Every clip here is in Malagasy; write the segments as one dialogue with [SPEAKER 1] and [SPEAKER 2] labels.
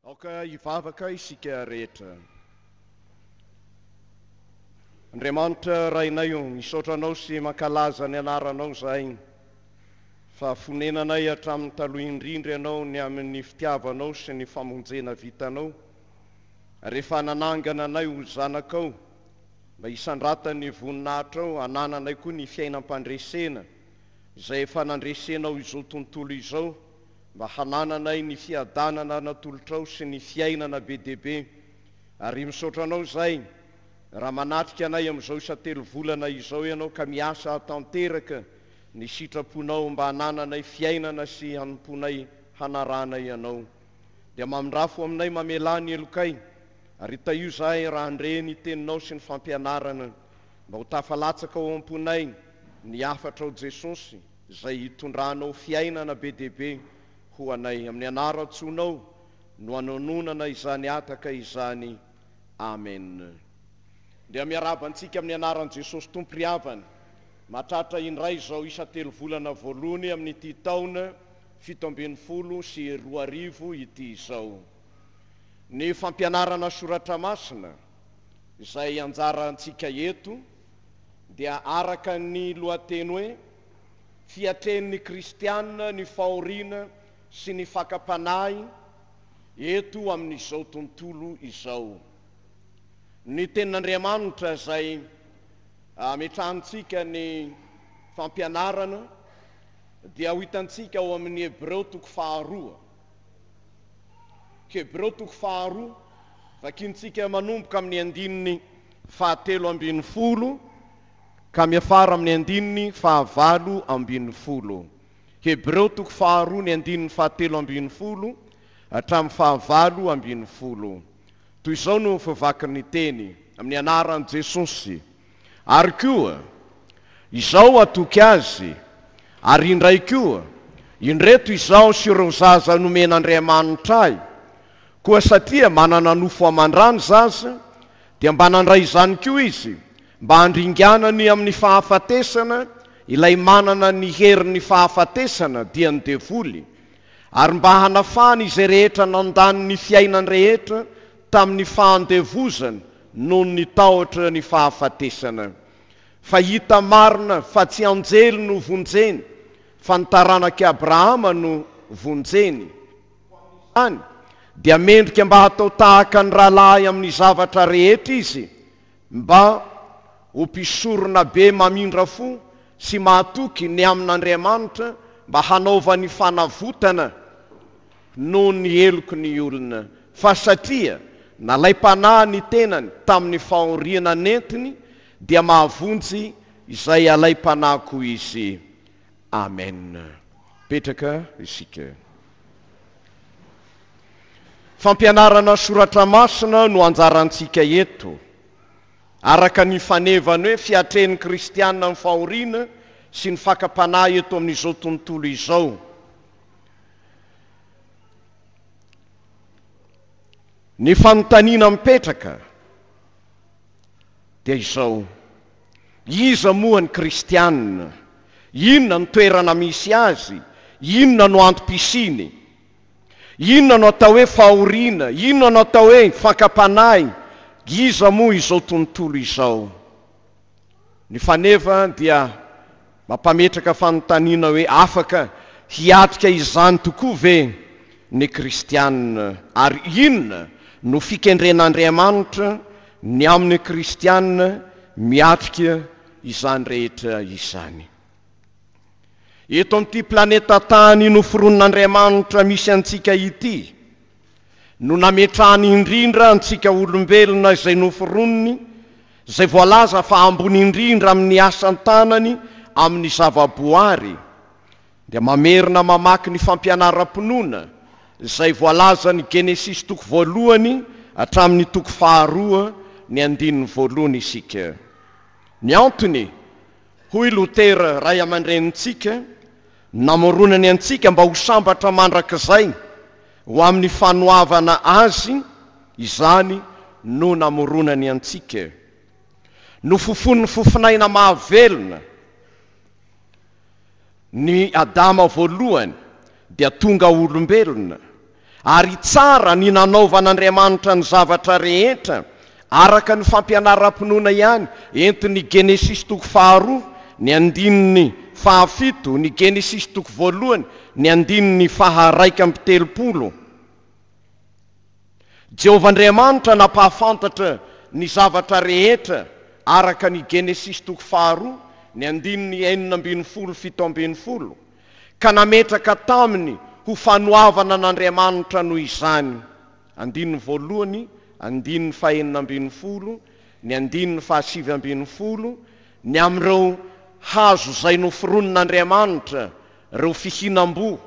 [SPEAKER 1] Aoka hivavaka isika rehetra. Andriamanitra Rainay o, misaotra Anao sy mankalaza ny Anaranao izahay, fa fonenanay hatramin'ny taloha indrindra Ianao ny amin'ny fitiavanao sy ny famonjena vitanao, ary efa nanangana anay ho zanakao mba hisandratan'ny voninahitrao, hanananay koa ny fiainam-pandresena izay efa nandresenao izao tontolo izao, mba hanananay ny fiadanana natolotrao sy ny fiainana be dia be ary misaotra anao izay raha manatrika anay amin'izao isa-telo volana izao ianao ka miasa hahatanteraka ny sitraponao mba hanananay fiainana sy hanomponay hanaranay ianao dia mamindrafo aminay mamelà ny helokay ary tahio izahay raha handre ny teninao sy ny fampianarana mba ho tafalatsaka ao am-ponay ny hafatrao Jesosy Izay hitondranao fiainana be dia be ho anay. Amin'ny anaran-tsoanao no anononana izany ataka izany. Amena. Dia miarahaba antsika amin'ny anaran'i Jesosy Tompo ry havana. Mahatratra indray izao isan-telovolana voalohany amin'ity taona fito ambin'ny folo sy roa arivo ity izao ny fampianarana soratra masina izay anjarantsika eto. dia araka ny lohateny hoe Fiatrehin'ny Kristiana ny Fahoriana sy ny Fakam-panahy eto Amin'izao Tontolo Izao. Ny Tenin'Andriamanitra izay ametrahantsika ny fampianarana dia ho hitantsika ao amin'ny Hebreo toko faharoa. Hebreo toko faharoa, vakintsika manomboka amin'ny andininy fahatelo ambin'ny folo ka miafara amin'ny andininy fahavalo ambin'ny folo. Hebreo toko faharoa ny andininy fahatelo ambin'ny folo hatramin'ny fahavalo ambin'ny folo. Toy izao no fivakin'ny teny, Amin'ny anaran'i Jesosy. Ary koa, izao atoky azy, ary indray koa, indreto izaho sy ireo zaza nomen'Andriamanitra ahy, koa satria manana nofo aman-drà ny zaza, Dia mba nandray izany koa izy, mba handringanany amin'ny fahafatesana ilay manana ny herin'ny fahafatesana, dia ny devoly, ary mba hanafahany izay rehetra nandany ny fiainany rehetra tamin'ny fahandevozana noho ny tahotra ny fahafatesana. Fa hita marina fa tsy anjely no vonjeny, fa ny taranak'i Abrahama no vonjeny. Ho amin'izany, dia mendrika mba hatao tahaka ny rahalahy amin'ny zavatra rehetra izy, mba ho mpisorona be mamindra fo sy mahatoky ny amin'Andriamanitra mba hanaovany fanavotana noho ny heloky ny olona. Fa satria nalaim-panahy ny tenany tamin'ny fahoriana nentiny, dia mahavonjy izay alaim-panahy koa izy. Amen! Petraka isika. Fampianarana soratra masina no anjarantsika eto. Araka ny fanevany hoe fiatrehin'ny kristiana amin'ny fahoriana sy ny fakam-panahy eto amin'izao tontolo izao. Ny fanontaniana mipetraka. dia izao, Iza moa ny kristiana? Inona no toerana misy azy? Inona no antom-pisiany? Inona no atao hoe fahoriana? Inona no atao hoe fakam-panahy? Iza moa izao tontolo izao? Ny faneva dia mampametraka fanontaniana hoe, Afaka hiatrika izany tokoa ve ny Kristianina? Ary inona no fikendren'Andriamanitra ny amin'ny Kristianina miatrika izany rehetra izany? Eto amin'ity planeta tany noforonon'Andriamanitra misy antsika ity, no nametrahany indrindra antsika olombelona izay noforoniny, izay voalaza fa ambony indrindra amin'ny asan-tanany amin'ny zava-boary, dia mamerina mamaky ny fampianaram-pinoana izay voalazan'ny Genesisy toko voalohany hatramin'ny toko faharoa ny andininy voalohany isika. Ny antony, hoy Lotera ray aman-drenintsika, Namoronany antsika mba ho sambatra mandrakizay ho amin'ny fanoavana Azy izany no namoronany antsika. Nofofonin'ny fofonaina mahavelona ny Adama voalohany dia tonga olombelona Ary tsara ny nanaovan'Andriamanitra ny zavatra rehetra araka ny fampianaram-pinoana ihany, ento ny Genesisy toko faharoa, ny andininy fahafito, ny Genesisy toko voalohany, ny andininy faha-raika amby telopolo. Jehovah Andriamanitra nampahafantatra ny zavatra rehetra araka ny Genesisy toko faharoa, ny andininy enina ambin'ny folo, fito ambin'ny folo. ka nametraka taminy ho fanoavana an'Andriamanitra noho izany. Andininy voalohany, andininy fahenina ambin'ny folo, ny andininy fahasivy ambin'ny folo, ny amin'ireo hazo izay noforonin'Andriamanitra, ireo fihinam-boa,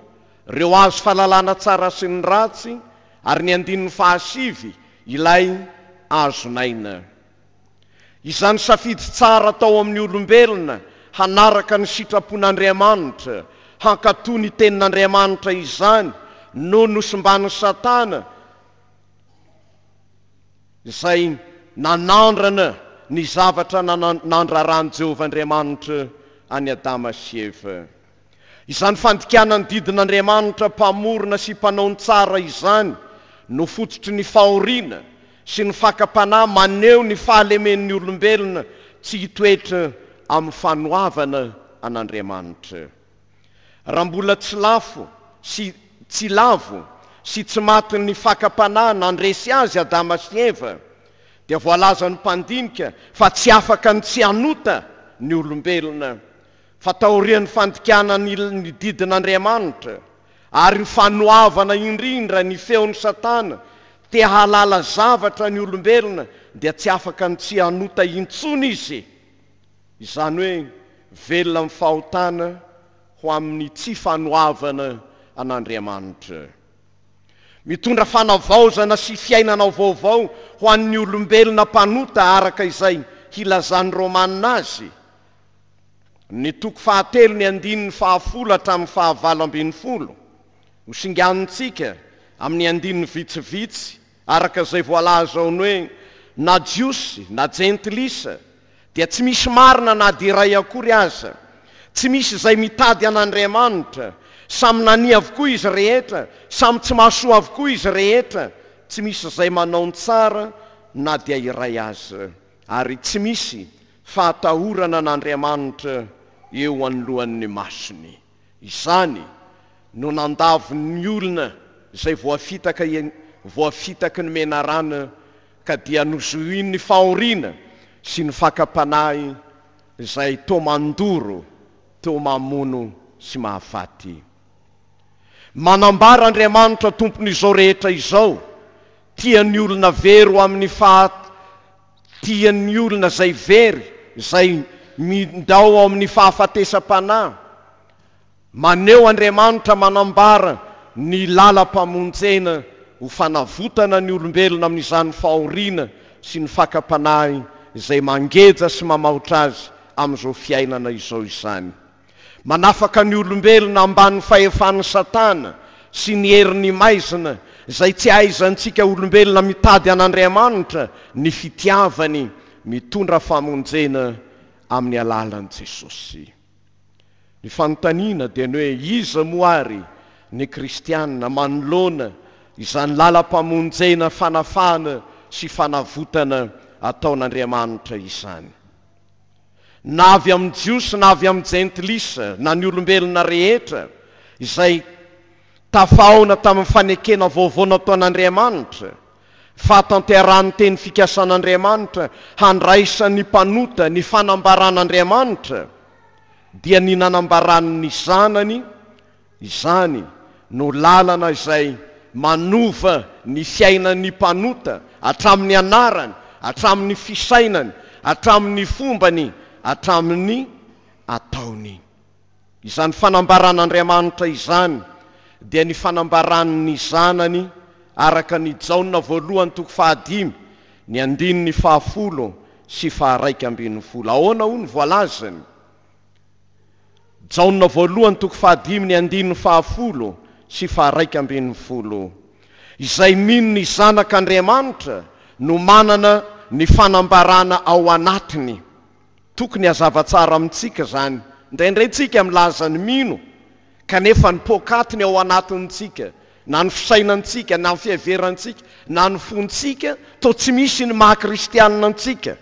[SPEAKER 1] ireo hazo fahalalana tsara sy ny ratsy, ary ny andininy fahasivy, ilay hazon'aina. Izany safidy tsara atao amin'ny olombelona hanaraka ny sitrapon'Andriamanitra, hankatò ny Tenin'Andriamanitra izany no nosimban'i Satana izay nanandrana ny zavatra nandraran'i Jehovah Andriamanitra an'i Adama sy Eva. Izany fandikana ny didin'Andriamanitra Mpamorona sy Mpanao ny tsara izany no fototry ny fahoriana sy ny fakam-panahy maneho ny fahalemen'ny olombelona tsy hitoetra amin'ny fanoavana an'Andriamanitra. Raha mbola tsy lafo sy tsy lavo sy tsy matin'ny fakam-panahy nandresy azy Adama sy Eva, dia voalazan'ny mpandinika fa tsy afaka ny tsy hanota ny olombelona, Fa taorian'ny fandikana ny ny didin'Andriamanitra ary ny fanoavana indrindra ny feon'i Satana te hahalala zavatra ny olombelona dia tsy afaka ny tsy hanota intsony izy, izany hoe velona amin'ny fahotana ho amin'ny tsy fanoavana an'Andriamanitra. Mitondra fanavaozana sy fiainana vaovao ho an'ny olombelona mpanota araka izay hilazan'ny Romana azy, Ny toko fahatelo ny andininy fahafolo hatramin'ny fahavalo ambin'ny folo no singanintsika amin'ny andininy vitsivitsy araka izay voalaza ao ny hoe na Jiosy na Jentilisa dia tsy misy marina na dia iray akory aza, tsy misy izay mitady an'Andriamanitra, samy nania avokoa izy rehetra, samy tsy mahasoa avokoa izy rehetra, tsy misy izay manao ny tsara na dia iray aza, ary tsy misy fahatahorana an'Andriamanitra eo anoloan'ny masony. Izany no nandavin'ny olona izay voafitaka voafitaky ny menarana ka dia nozohin'ny fahoriana sy ny fakam-panahy izay toa mandoro, toa mamono sy mahafaty. Manambara Andriamanitra Tompon'izao rehetra izao, Tia ny olona very ho amin'ny faha. Tian'ny olona izay very, izay mindao ao amin'ny fahafatesam-panahy. Maneho Andriamanitra manambara ny lalam-pamonjena ho fanavotana ny olombelona amin'izany fahoriana sy ny fakam-panahy izay mangeja sy mamaotra azy amin'izao fiainana izao izany. Manafaka ny olombelona ambany fahefan'i Satana sy ny herin'ny maizina izay tsy ahaizantsika olombelona mitady an'Andriamanitra ny fitiavany mitondra famonjena amin'ny alalan'i Jesosy. Ny fanontaniana dia ny hoe iza moa ary ny kristiana manoloana izany lalam-pamonjena, fanafahana sy fanavotana ataon'Andriamanitra izany? na avy amin'ny Jiosy na avy amin'ny Jentilisa, na ny olombelona rehetra izay tafahaona tamin'ny fanekena vaovao nataon'Andriamanitra, fahatanterahan'ny teny fikasan'Andriamanitra handraisan'ny mpanota ny fanambaran'Andriamanitra, dia ny nanambarany ny Zanany Izany no lalana izay manova ny fiainan'ny mpanota hatramin'ny anarany, hatramin'ny fisainany, hatramin'ny fombany, hatramin'ny ataony. Izany fanambaran'Andriamanitra izany dia ny fanambaran'ny Zanany araka ny Jaona voalohany toko fahadimy ny andininy fahafolo sy faharaika ambin'ny folo. Ahoana hoy ny voalazany? Jaona voalohany toko fahadimy ny andininy fahafolo sy faharaika ambin'ny folo Izay mino ny Zanak' Andriamanitra no manana ny fanambarana ao anatiny. Tokony hazava tsara amintsika izany. Indraindray tsika milaza ny mino kanefa ny poakatiny ao anatintsika na ny fisainantsika na ny fiheverantsika na ny fontsika toa tsy misy ny maha kristianina antsika.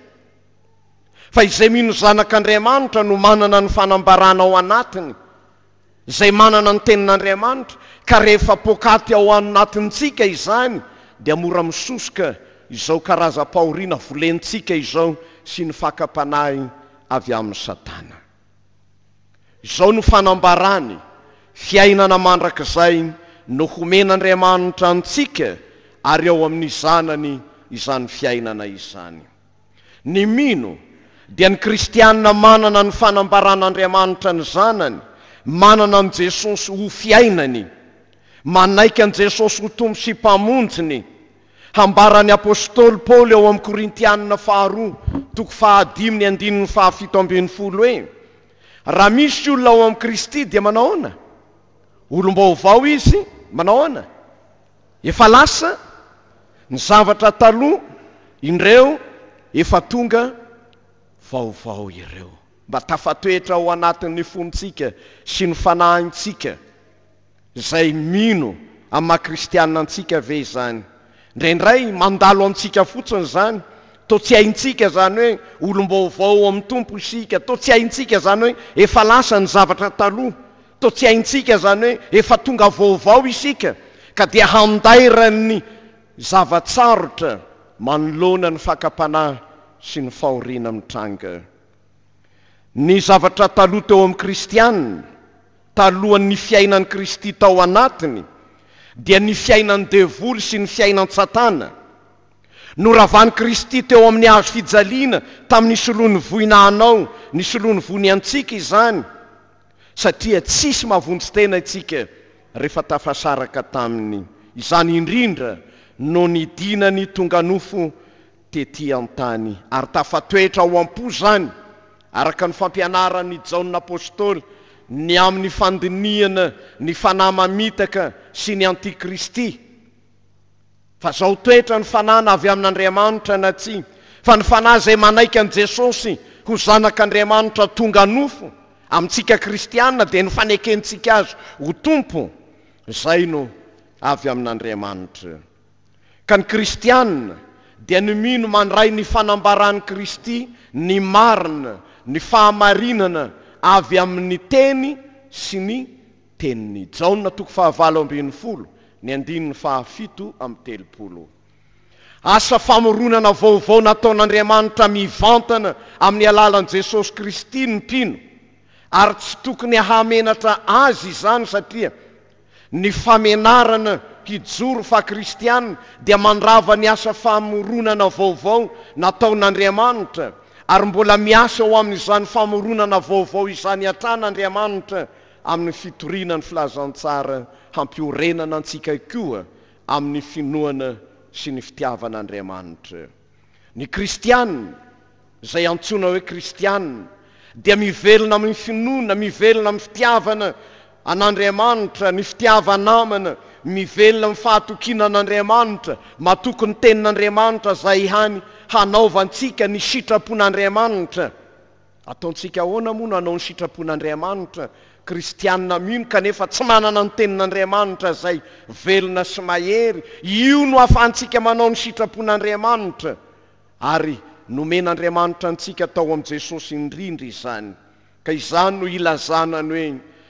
[SPEAKER 1] Fa izay mino Zanak'Andriamanitra no manana ny fanambarana ao anatiny, izay manana ny Tenin'Andriamanitra, ka rehefa poakaty ao anatintsika izany dia mora misosoka izao karazam-pahoriana volentsika izao sy ny fakam-panahy avy amin'i Satana. Izao no fanambarany, Fiainana mandrakizay no homen'Andriamanitra antsika ary ao amin'ny Zanany izany fiainana izany. Ny mino dia ny kristiana manana ny fanambaran'Andriamanitra ny Zanany, manana an'i Jesosy ho fiainany, manaiky an'i Jesosy ho Tompo sy Mpamonjiny, hambaran'ny apostoly Paoly ao amin'ny Korintiana faharoa toko fahadimy ny andininy fahafito ambin'ny folo hoe, Raha misy olona ao amin'i Kristy dia manahoana? Olom-baovao izy, manahoana? Efa lasa ny zavatra taloha indreo efa tonga vaovao ireo. Mba tafatoetra ao anatin'ny fontsika sy ny fanahintsika izay mino amin'ny maha kristiana antsika ve izany? Indraindray mandalo antsika fotsiny izany, toa tsy haintsika izany hoe olom-baovao ao amin'ny Tompo isika, toa tsy haintsika izany hoe efa lasa ny zavatra taloha Toa tsy haintsika izany hoe efa tonga vaovao isika ka dia handairan'ny zava-tsarotra manoloana ny fakam-panahy sy ny fahoriana mitranga. Ny zavatra taloha teo amin'ny kristiana, talohan'ny fiainan'i Kristy tao anatiny, dia ny fiainan'ny devoly sy ny fiainan-tsatana. Noravan'i Kristy teo amin'ny hazo fijaliana tamin'ny solon'ny voina hanao ny solon'ny voiny antsika izany. satria tsisy mahavonjy tena isika rehefa tafasaraka taminy, izany indrindra no nidinany tonga nofo tety an-tany, ary tafatoetra ao am-po izany, araka ny fampianaran' i Jaona Apostoly, ny amin'ny fandinihana ny fanahy mamitaka sy ny antikristy. fa zao toetra ny fanahy na avy amin'Andriamanitra na tsia, fa ny fanahy izay manaiky an'i Jesosy ho zanak'Andriamanitra tonga nofo amintsika kristiana dia ny fanekentsika azy ho Tompo izay no avy amin'Andriamanitra. Ka ny kristiana dia ny mino mandray ny fanambaran'i Kristy ny marina, ny fahamarinana avy amin'ny teny sy ny Tenin'i Jaona toko fahavalo ambin'ny folo, ny andininy fahafito amby telopolo. Asa famoronana vaovao nataon'Andriamanitra mivantana amin'ny alalan'i Jesosy Kristy ny mpino, ary tsy tokony hahamenatra Azy izany satria ny famenarana hijoro faha-kristiana dia mandrava ny asa famoronana vaovao nataon'Andriamanitra, ary mbola miasa ho amin'izany famoronana vaovao izany hatrany Andriamanitra amin'ny fitoriana ny filazantsara hampiorenana antsika koa amin'ny finoana sy ny fitiavana Andriamanitra. Ny kristiana, izay antsoina hoe kristiana, dia mivelona amin'ny finoana, mivelona amin'ny fitiavana an'Andriamanitra, ny fitiava-namana, mivelona amin'ny fahatokiana an'Andriamanitra, matoky ny tenin'Andriamanitra izay hany hanaovantsika ny sitrapon'Andriamanitra. Ataontsika ahoana moa no hanao ny sitrapon'Andriamanitra? Kristianina mino kanefa tsy manana ny Tenin'Andriamanitra izay velona sy mahery, io no ahafahantsika manao ny sitrapon'Andriamanitra, ary nomen'Andriamanitra antsika tao amin'i Jesosy indrindra izany. Ka izany no ilazana ny hoe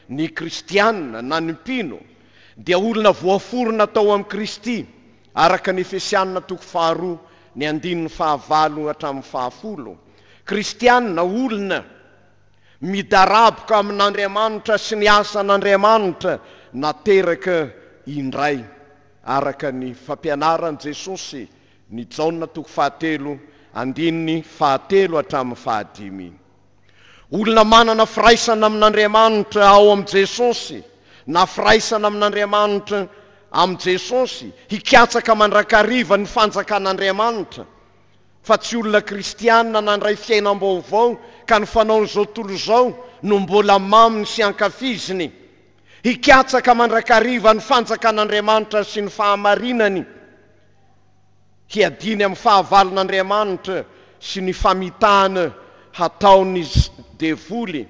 [SPEAKER 1] ny Kristianina, na ny mpino, dia olona voaforona tao amin'i Kristy. Araka ny Efesiana toko faharoa ny andininy fahavalo hatramin'ny fahafolo, kristiana, olona, midaraboka amin'Andriamanitra sy ny asan'Andriamanitra nateraka indray, araka ny fampianaran'i Jesosy, ny Jaona toko fahatelo andininy fahatelo hatramin'ny fahadimy. Olona manana firaisana amin'Andriamanitra ao amin'i Jesosy na firaisana amin'Andriamanitra amin'i Jesosy hikatsaka mandrakariva ny fanjakan'Andriamanitra fa tsy olona kristiana nandray fiainam-baovao ka ny fanaon'izao tontolo izao no mbola maminy sy ankafiziny hikatsaka mandrakariva ny fanjakan'Andriamanitra sy ny fahamarinany Hiadiany amin'ny fahavalon'Andriamanitra sy ny famitahana hataon'ny devoly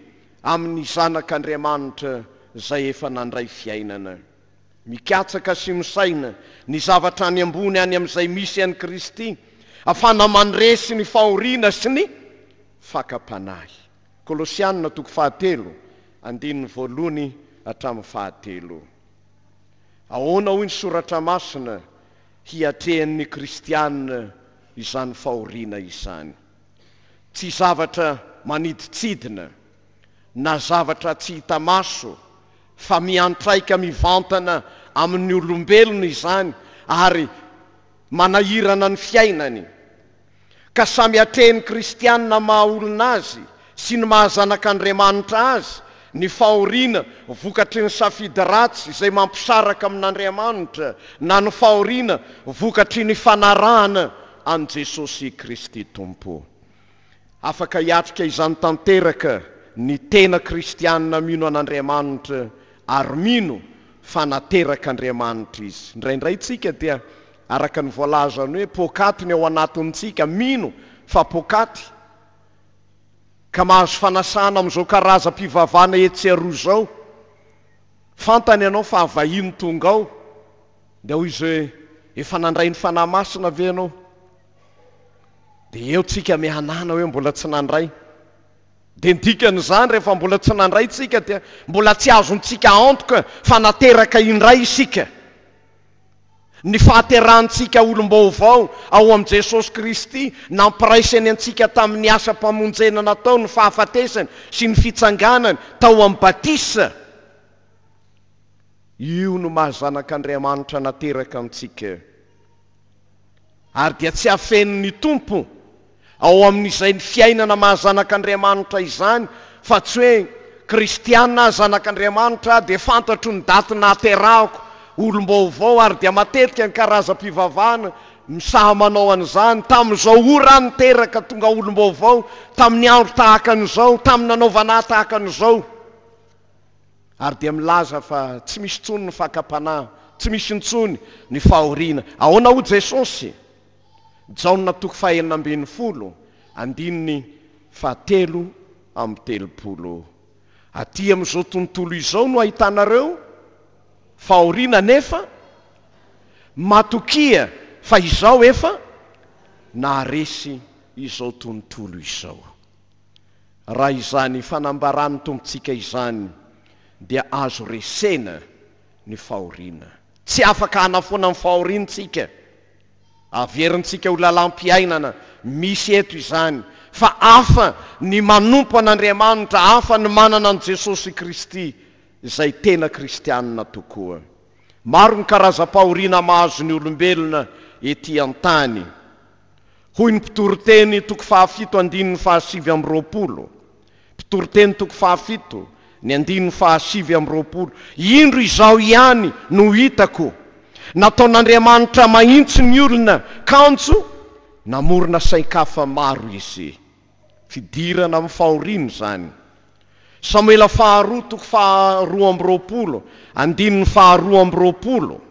[SPEAKER 1] amin'ny zanak'Andriamanitra izay efa nandray fiainana. Mikatsaka sy misaina ny zavatra any ambony any amin'izay misy an'i Kristy afana mandresy ny fahoriana sy ny fakam-panahy. Kolosiana toko fahatelo andininy voalohany hatramin'ny fahatelo. Ahoana hoy ny soratra masina hiatrehan'ny kristiana izany fahoriana izany. Tsy zavatra manidintsidina na zavatra tsy hita maso fa miantraika mivantana amin'ny olombelona izany ary manahirana ny fiainany. ka samy atrehin'ny kristiana maha olona azy sy ny maha zanak'Andriamanitra azy ny fahoriana vokatry ny safidy ratsy izay mampisaraka amin'Andriamanitra na ny fahoriana vokatry ny fanarahana an'i Jesosy Kristy Tompo. Afaka hiatrika izany tanteraka ny tena kristiana mino an'Andriamanitra ary mino fa naterak'Andriamanitra izy. Indraindray isika dia Araka ny voalazany hoe poakaty ny ao anatintsika, mino fa poakaty ka mahazo fanasana amin'izao karazam-pivavahana etsy sy aroa izao. Fantany ianao fa vahiny tonga ao, dia hoy izy hoe, efa nandray ny Fanahy Masina ve ianao? Dia eo tsika mihanana hoe mbola tsy nandray. Dia ny dikan'izany rehefa mbola tsy nandray tsika dia mbola tsy azontsika antoka fa nateraka indray isika. Ny fahaterahantsika olom-baovao ao amin'i Jesosy Kristy, nampiraisany antsika tamin'ny asam-pamonjena nataony ny fahafatesany sy ny fitsanganany tao amin'ny batisa, io no maha zanak'Andriamanitra nateraka antsika. Ary dia tsy afenin' ny Tompo ao amin' izay ny fiainana maha zanak' Andriamanitra izany, fa tsy hoe, Kristiana aho, zanak' Andriamanitra aho, dia fantatro ny daty nahaterahako, olom-baovao, ary dia matetika ny karazam-pivavahana no saha manao an' izany, tamin' izao ora aho niteraka, tonga olom-baovao, tamin' ny andro tahaka an' izao, tamin' ny nanaovana ahy tahaka an' izao. ary dia milaza fa tsy misy intsony ny fakam-panahy, tsy misy intsony ny fahoriana. Ahoana hoy Jesosy? Jaona toko fahenina ambin'ny folo, andininy fahatelo amby telopolo, Aty amin'izao tontolo izao no ahitanareo fahoriana nefa matokia fa izaho efa naharesy izao tontolo izao. Raha izany fanambaran'ny Tompontsika izany dia azo resena ny fahoriana. Tsy afaka hanafoana ny fahoriantsika, averintsika ho lalam-piainana misy eto izany, fa hafa ny manompo an'Andriamanitra, hafa ny manana an'i Jesosy Kristy, izay tena kristianina tokoa. Maro ny karazam-pahoriana mahazo ny olombelona ety an-tany. hoy ny mpitoriteny toko fahafito andininy fahasivy amby roapolo, mpitoriteny toko fahafito ny andininy fahasivy amby roapolo, indro izao ihany no hitako, nataon'Andriamanitra mahitsy ny olona kanjo namorona sain-kafa maro izy. Fidirana amin'ny fahoriana izany. Samoela faharoa toko faharoa amby roapolo andininy faharoa amby roapolo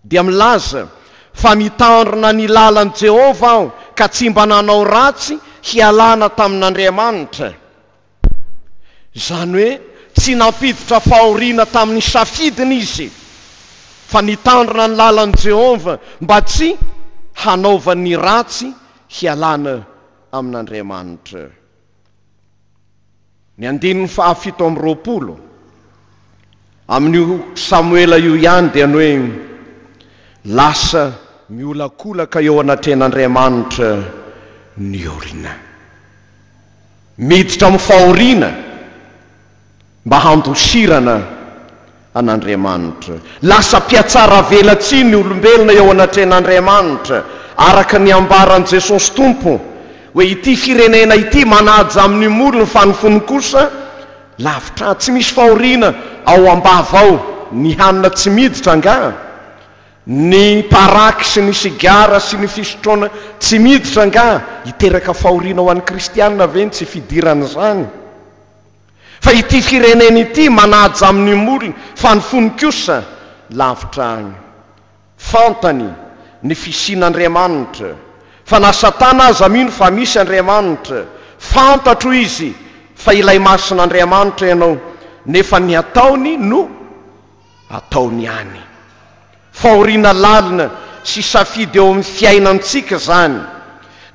[SPEAKER 1] dia milaza fa mitandrina ny lalan'i Jehovah aho ka tsy mba nanao ratsy hialana tamin'Andriamanitra. Izany hoe tsy nampiditra fahoriana tamin'ny safidiny izy, fa nitandrina ny lalan'i Jehovah mba tsy hanaovany ny ratsy hialana amin'Andriamanitra. Ny andininy fahafito amby roapolo amin'io Samoela io ihany dia ny hoe lasa miolakolaka eo anatrehan'Andriamanitra ny olona. Miditra amin'ny fahoriana mba handosirana an'Andriamanitra. Lasa mpihatsaravelatsihy ny olombelona eo anatrehan'Andriamanitra, araka ny ambaran'i Jesosy Tompo, hoe ity firenena ity manaja amin'ny molony fa ny fony kosa lavitra ahy. Tsy misy fahoriana ao am-bava ao ny hanina tsy miditra angaha? Ny paraky sy ny sigara sy ny fisotroana tsy miditra angaha hiteraka fahoriana ho an'ny kristiana ve ny tsy fidiran'izany? Fa ity firenena ity manaja amin'ny molony fa ny fony kosa lavitra agny. Fantany ny fisian'Andriamanitra, fa na satana aza mino fa misy Andriamanitra. Fantatro izy fa ilay masin'Andriamanitra ianao nefa ny ataony no. ataony ihany. Fahoriana lalina sy safidy eo amin'ny fiainantsika izany.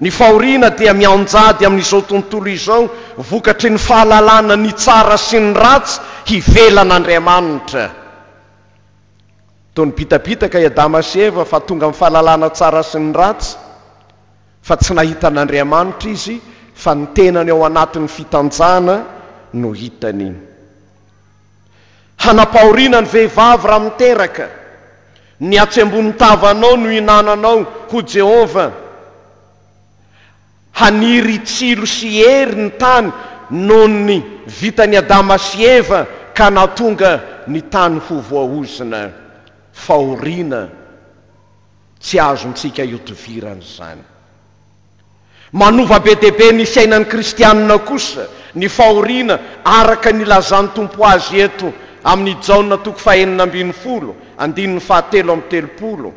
[SPEAKER 1] Ny fahoriana dia mianjady amin'izao tontolo izao vokatry ny fahalalana ny tsara sy ny ratsy hivelan'Andriamanitra. Toa nibitabitaka i Adama sy Eva fa tonga amin'ny fahalalana tsara sy ny ratsy, fa tsy nahita an'Andriamanitra izy fa ny tenany ao anatin'ny fitanjahana no hitany. Hanapahoriana ny vehivavy raha miteraka. Ny atsy ambonin'ny tavanao no hinananao, hoy Jehovah. Haniry tsilo sy hery ny tany noho ny vitan'i Adama sy Eva, ka nahatonga ny tany ho voaozona. Fahoriana tsy azontsika ihodivirana izany. Manova be dia be ny fiainan'ny kristianina kosa ny fahoriana araka ny ilazan'ny Tompo azy eto amin'ny Jaona toko fahenina ambin'ny folo andininy fahatelo amby telopolo,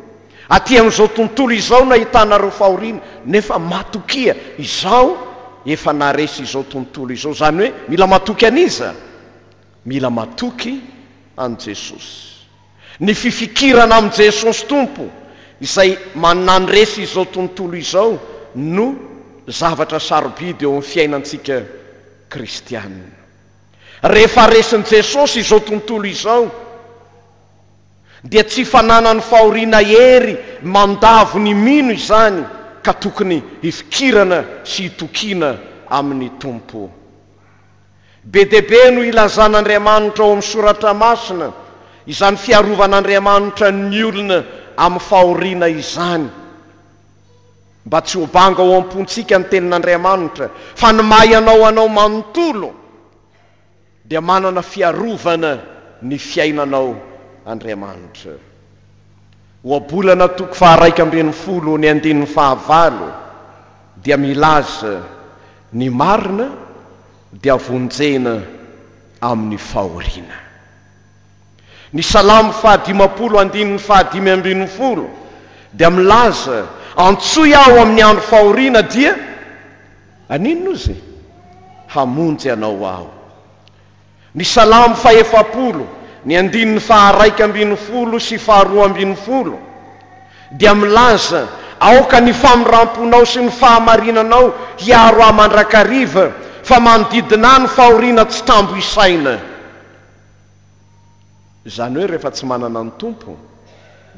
[SPEAKER 1] Aty amin'izao tontolo izao nahitana ireo fahoriana, nefa matokia, izaho efa naharesy izao tontolo izao. Izany hoe mila matoky an'iza? Mila matoky an'i Jesosy. Ny fifikirana amin'i Jesosy Tompo izay manandresy izao tontolo izao no zavatra sarobidy eo amin'ny fiainantsika kristiana. Rehefa resin'i Jesosy izao tontolo izao dia tsy fananan'ny fahoriana hery mandavo ny mino izany ka tokony hifikirana sy hitokiana amin'ny Tompo. Be dia be no ilazan'Andriamanitra ao amin'ny Soratra Masina izany fiarovan'Andriamanitra ny olona amin'ny fahoriana izany. Mba tsy ho banga ao am-pontsika ny Tenin'Andriamanitra fa ny maha ianao anao manontolo dia manana fiarovana ny fiainanao Andriamanitra. Ohabolana toko faharaika ambin'ny folo ny andininy fahavalo dia milaza ny marina dia vonjena amin'ny fahoriana. Ny salamo fahadimampolo andininy fahadimy ambin'ny folo dia milaza antsoy aho amin'ny andro fahoriana dia haninona ozy? hamonjy anao aho. Ny Salamo fahefapolo, ny andininy faha-raika ambin'ny folo sy faharoa ambin'ny folo, dia milaza, Aoka ny famindram-ponao sy ny fahamarinanao hiaro ahy mandrakariva, fa manodidina ahy ny fahoriana tsy tambo isaina. Izany hoe rehefa tsy manana ny Tompo,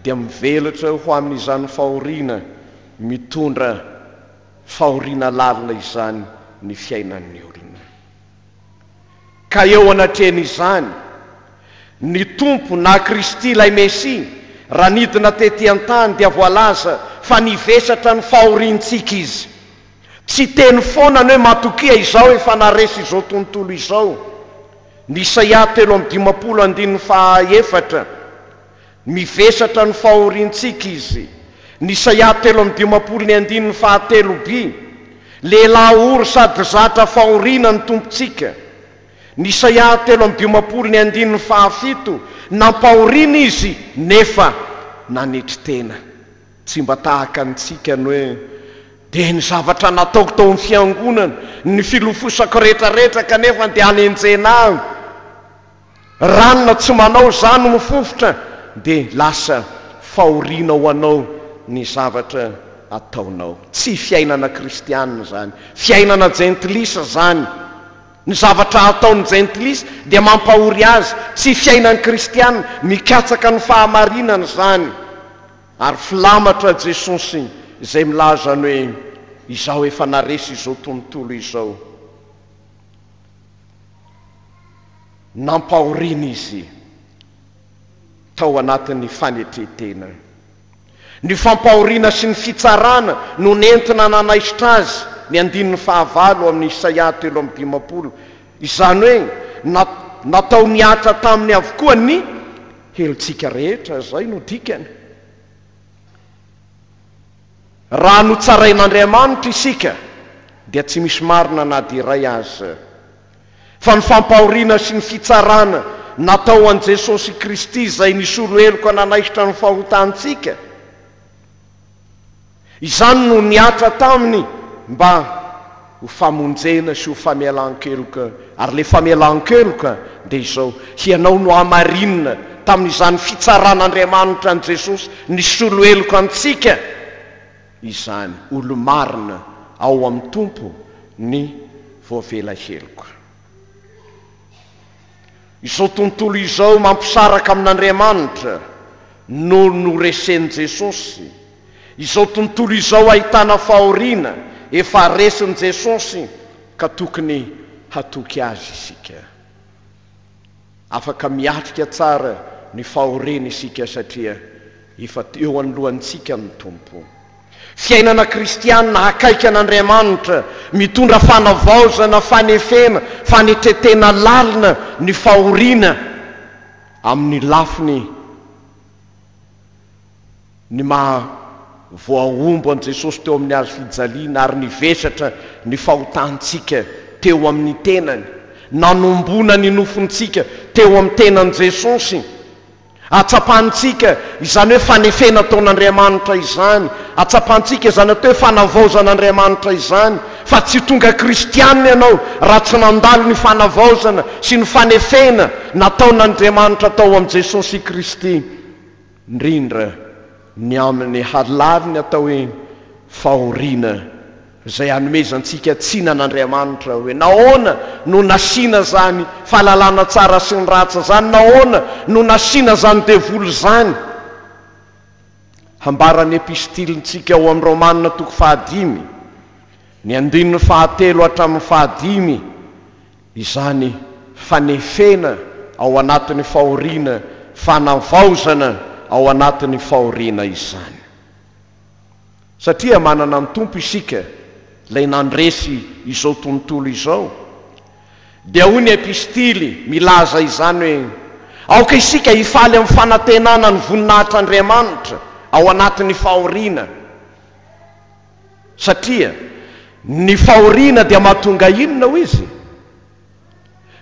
[SPEAKER 1] dia mivelatra eo ho amin'izany fahoriana mitondra fahoriana lalina izany ny fiainan'ny olona. Ka eo anatrehan'izany, ny Tompo na Kristy ilay Mesia, raha nidina tety an-tany dia voalaza fa nivesatra ny fahoriantsika Izy. Tsy teny foana ny hoe matokia izao efa naharesy izao tontolo izao. Ny Isaia telo amby dimampolo andininy faha efatra. Mivesatra ny fahoriantsika izy. Ny Isaia telo amby dimampolo ny andininy fahatelo bi, Lehilahy ory sady zatra fahoriana ny Tompontsika. Ny Isaia telo amby dimampolo ny andininy fahafito, Nampahoriana izy nefa nanetry tena. Tsy mba tahaka antsika ny hoe, Dia ny zavatra nataoko tao amin'ny fiangonana, ny filofosako rehetrarehetra kanefa dia hanenjena ahy. Ranona tsy manao izany no fofotra dia lasa fahoriana ho anao ny zavatra ataonao. Tsy fiainana kristianina izany. Fiainana jentilisa izany. Ny zavatra ataon'ny jentilisa dia mampahory azy. Tsy fiainan'ny kristianina. Mikatsaka ny fahamarinana izany. Ary filamatra Jesosy izay milaza ny hoe, Izaho efa naharesy izao tontolo izao. nampahoriana izy tao anatin'ny fanetren-tena. Ny fampahoriana sy ny fitsarana no nentina nanaisotra azy ny andininy fahavalo amin'ny Isaia telo amby dimampolo, izany hoe na natao nihatra taminy avokoa ny helotsika rehetra, izay no dikany. Raha notsarain'Andriamanitra isika dia tsy misy marina na dia iray aza. Fa ny fampahoriana sy ny fitsarana natao an'i Jesosy Kristy izay nisolo heloka nanaisotra ny fahotantsika, izany no nihatra taminy mba. ho famonjena sy ho famelan-keloka, ary ilay famelan-keloka dia izao, hianao no hamarinina tamin'izany fitsaran'Andriamanitra an'i Jesosy nisolo heloka antsika izany, olo-marina ao amin'ny Tompo ny voavela heloka. Izao tontolo izao mampisaraka amin'Andriamanitra no noresen'i Jesosy. Izao tontolo izao ahitana fahoriana efa resin'i Jesosy ka tokony hatoky azy isika. Afaka miatrika tsara ny fahoriana isika satria efa eo anoloantsika ny Tompo. Fiainana kristiana akaiky an'Andriamanitra, mitondra fanavaozana, fanefena, fanetretena lalina ny fahoriana amin'ny lafiny ny maha voahombo an'i Jesosy teo amin'ny hazo fijaliana ary ny vesatra ny fahotantsika teo amin'ny tenany, nanomboana ny nofontsika teo amin'ny tenan'i Jesosy. Hatsapantsika izany hoe fanefena ataon'Andriamanitra izany. Hatsapantsika izany atao hoe fanavaozan'Andriamanitra izany. Fa tsy tonga kristiana ianao raha tsy nandalo ny fanavaozana sy ny fanefena nataon'Andriamanitra tao amin'i Jesosy Kristy, indrindra ny amin'ny halaviny atao hoe fahoriana izay hanomezantsika tsiny an'Andriamanitra hoe nahoana no nasiana izany fahalalana tsara sy ny ratsy izany, nahoana no nasiana izany devoly izany. Hambaran'ny epistilintsika ao amin'ny Romana toko fahadimy, ny andininy fahatelo hatramin'ny fahadimy, izany fanefena ao anatin'ny fahoriana, fanavaozana ao anatin'ny fahoriana izany. Satria manana ny Tompo isika, Ilay nandresy izao tontolo izao. Dia hoy ny epistily milaza izany hoe, Aoka isika hifaly amin'ny fanantenana ny voninahitr'Andriamanitra ao anatin'ny fahoriana. Satria ny fahoriana dia mahatonga inona hoy izy?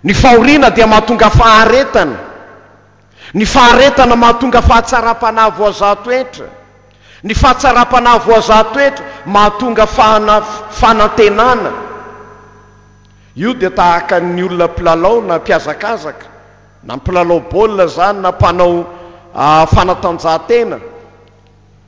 [SPEAKER 1] Ny fahoriana dia mahatonga faharetana. Ny faharetana mahatonga fahatsaram-panahy voazaha toetra. Ny fahatsaram-panahy voazaha toetra mahatonga fahana, fanantenana. Io dia tahaka ny olona mpilalao na mpihazakazaka, na mpilalao baolina izany na mpanao fanatanjahantena,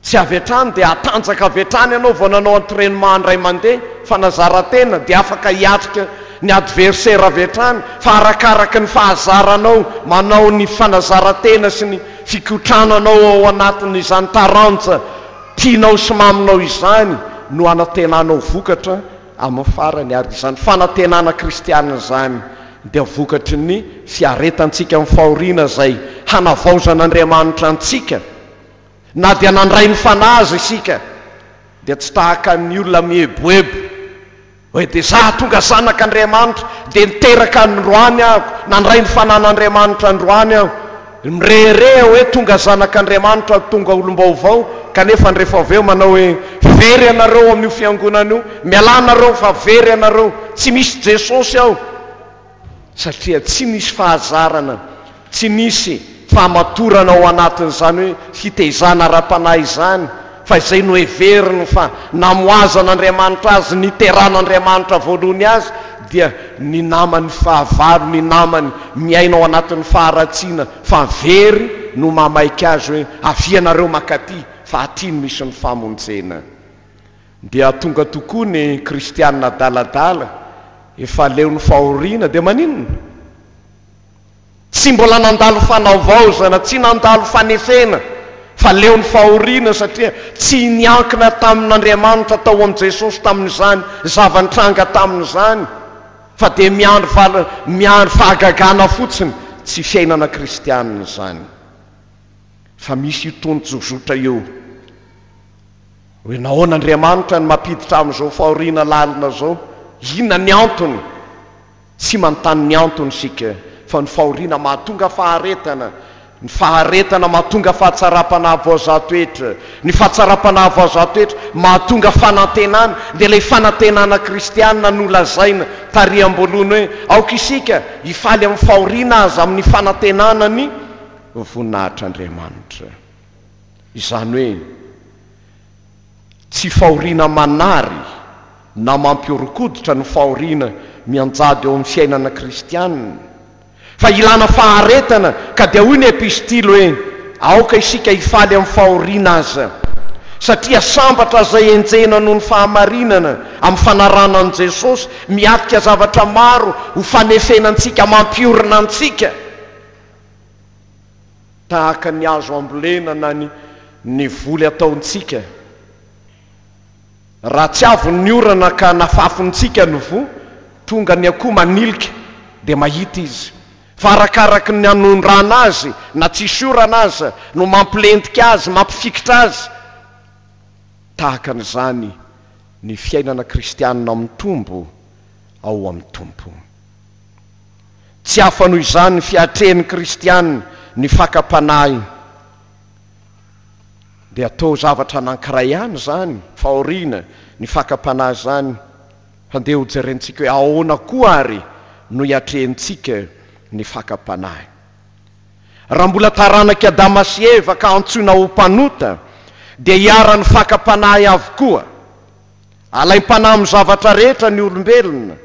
[SPEAKER 1] Tsy avy hatrany dia hatanjaka avy hatrany ianao vao nanao entrainement indray mandeha fa na zara-tena dia afaka hiatrika ny adversaire avy hatrany fa arakaraka ny fahazaranao manao ny fanazara-tena sy ny fikotrananao ao anatin'izany taranja tianao sy maminao izany no hanantenanao vokatra amin'ny farany ary izany fanantenana kristiana izany dia vokatry ny fiaretantsika amin'ny fahoriana izay hanavaozan'Andriamanitra antsika. Na dia nandray ny Fanahy aza isika, dia tsy tahaka ny olona mieboebo hoe, Dia izaho tonga zanak' Andriamanitra, dia niteraka androany aho, nandray ny Fanahin' Andriamanitra androany aho. Mirehareha hoe tonga zanak' Andriamanitra aho, tonga olom-baovao, kanefa ny rehefa avy eo manao hoe, Very ianareo amin' io fiangonana io, mialà anareo fa very ianareo, tsy misy Jesosy ao. satria tsy nisy fahazarana, tsy nisy fahamatorana ao anatin'izany hoe fitaizana ara-panahy izany, fa izay noheveriny fa namoazan'Andriamanitra azy, niteran'Andriamanitra voalohany azy, dia ny namany fahavalo, ny namany miaina ao anatin'ny faharatsiana, fa very no mamaika azy hoe, Avia ianareo mankaty, fa aty no misy ny famonjena. Dia tonga tokoa ny kristianina adaladala efa leon'ny fahoriana dia maninona? Tsy mbola nandalo fanavaozana, tsy nandalo fanefena fa leon'ny fahoriana satria tsy niankina tamin'Andriamanitra tao amin'i Jesosy tamin'izany zava-nitranga taminy izany fa dia miandry val, miandry fahagagana fotsiny, tsy fiainana kristianina izany. Fa misy io tonjozotra io. Hoe nahoana Andriamanitra no mampiditra amin'izao fahoriana lalina izao? Inona ny antony? Tsy manontany ny antony isika, fa ny fahoriana mahatonga faharetana, ny faharetana mahatonga fahatsaram-panahy voazaha toetra, ny fahatsaram-panahy voazaha toetra mahatonga fanantenana, dia ilay fanantenana kristiana nolazaina tary am-boalohany hoe aoka isika hifaly amin'ny fahoriana aza amin'ny fanantenana ny voninahitr'Andriamanitra. Izany hoe, tsy fahoriana manary na mampihoron-koditra ny fahoriana mianjady eo amin'ny fiainana kristianina, fa ilana faharetana, ka dia hoy ny epistily hoe, Aoka isika hifaly amin'ny fahoriana aza, satria sambatra izay enjehina noho ny fahamarinana, amin'ny fanarahana an'i Jesosy, miatrika zavatra maro ho fanefena antsika, mampiorina antsika. tahaka ny azo ambolena na ny ny voly ataontsika. Raha tsy avy ny orana ka nafafintsika ny voa, tonga ny akoho manilika dia mahita izy. Fa arakaraky ny anondrana azy na tsisy orana aza no mampilentika azy, mampifikitra azy. Tahaka an'izany ny fiainana kristianina mitombo ao amin'ny Tompo. Tsy hafa noho izany ny fiatrehin'ny kristiana ny fakam-panahiny. Dia toa zavatra anankiray ihany izany, fahoriana, ny fakam-panahy izany. Handeha hojerentsika hoe ahoana koa àry no iatrehintsika ny fakam-panahy. Raha mbola taranak'i Adama sy Eva ka antsoina ho mpanota, dia iharan'ny fakam-panahy avokoa. Alaim-panahy amin'ny zavatra rehetra ny olombelona.